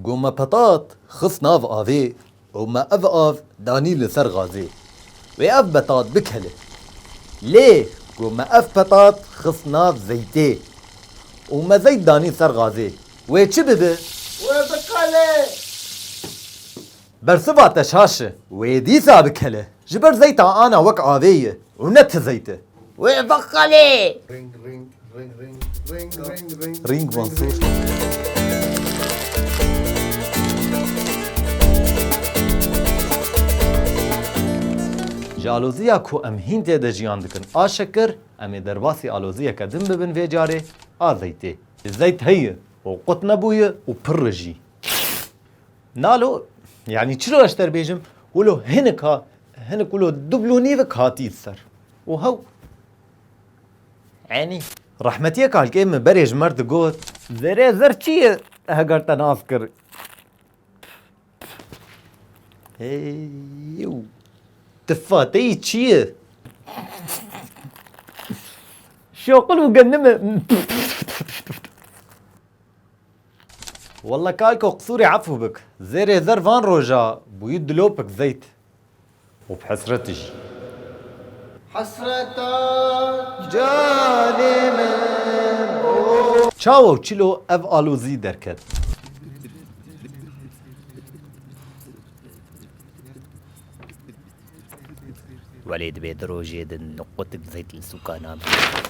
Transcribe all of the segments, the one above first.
Ku me petat xist nav avê û me ev av danî li ser gazê, wê ev petat bikele. Lê ku me ev petat xist nav zeytê û me zeyt danî ser gazê, wê çi bibe? Wê bikele. Bersiva te şaş e. Wê dîsa bikele. Ji ber zeyta ana wek avê ye û ne ti zeyt e. Wê bixelê. Ring Mansur. Ji aloziya ku em hîn tê de jiyan dikin a şekir, em ê derbasî aloziyeke din bibin vê carê a zeytê. Zeyt heye û qut nebûye û pirr e jî. Nalo yanî çilo ez te bêjim wilo hinik ha hinik wilo dublûnîvik hatî ser û hew enî rehmetiyê kalkê min berê ji mer digot zerê zer çi ye heger te nas kir Hey yew tifa te yî çi ye Şoqil û gendime Walla kalko qsûrê efû bik. Zêrê zer van roja bûyî dilopik zeyt. Û bi hesreti jî. Hesreta canê min o. Çawa û çilo ev alozî derket. Welê dibê di rojê di qutik zeyt li sûka namîne.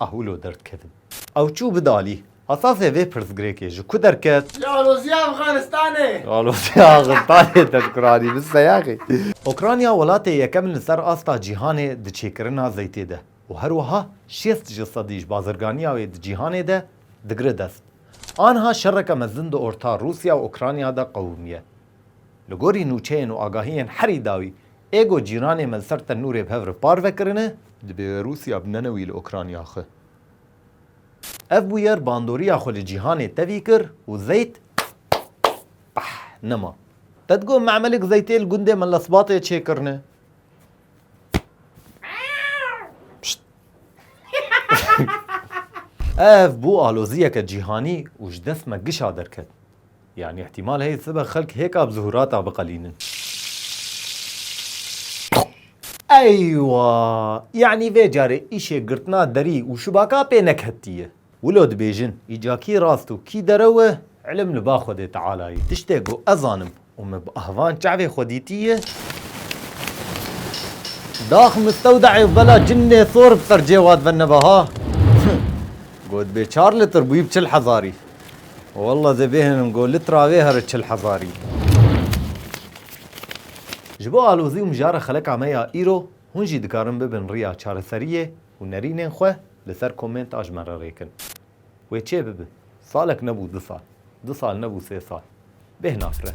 A hûlo der dikevin. Ew çû bi dalî. Esasê vê pirsgirêkê ji ku derket? Li Alozya Afxanistanê. Li Alozya Axistanê tedkuranî bi seyexî. Ûkranya welatê yekem in li ser asta cîhanê di çêkirina zeytê de û her wiha şêst ji sedî ji bazirganiya wê di cîhanê de digire dest. Anha şereke mezin di orta Rûsya û Ûkranya de qewimiye. Li gorî nûçeyên û agahiyên herî dawî, ê ku cîranê me li ser tenûrê bi hev re parve kirine, dibê wê Rûsya binene wî li Ûkranya xwe. Ev bûyer bandoriya xwe li cîhanê tevî kir û zeyt peh nema. Te digot me'melik zeytê li gundê me li Sbatê çê kirine? Pişt! Ev bû aloziyeke cîhanî û ji dest me gişa derket. Yanî îhtîmal heye sibe xelk hêka bi zuhurata biqelînin. Eywa! Yanî vê carê îşê girtina derî û şibaka pê neketiye. Wilo dibêjin, îca kî rast û kî derew e, îlim li ba Xwedê Tealayê. Tiştê ku ez zanim û me bi ahvan çavê xwe dîtiye, Dax mistewdayê û bela cinnê sor bi ser cêwad ve nebe ha! Got bê çar litir bûyî bi çil hezarî. Wallah divê hinim go litra vê here çil hezarî. Ji bo alozî û mijara xeleka me ya îro, hûn jî dikarin bibin riya çareseriyê û nerînên xwe li ser komenta ji me re rêkin. Wê çê bibe, salek nebû du sal, du sal nebû sê sal. Bêhna fre.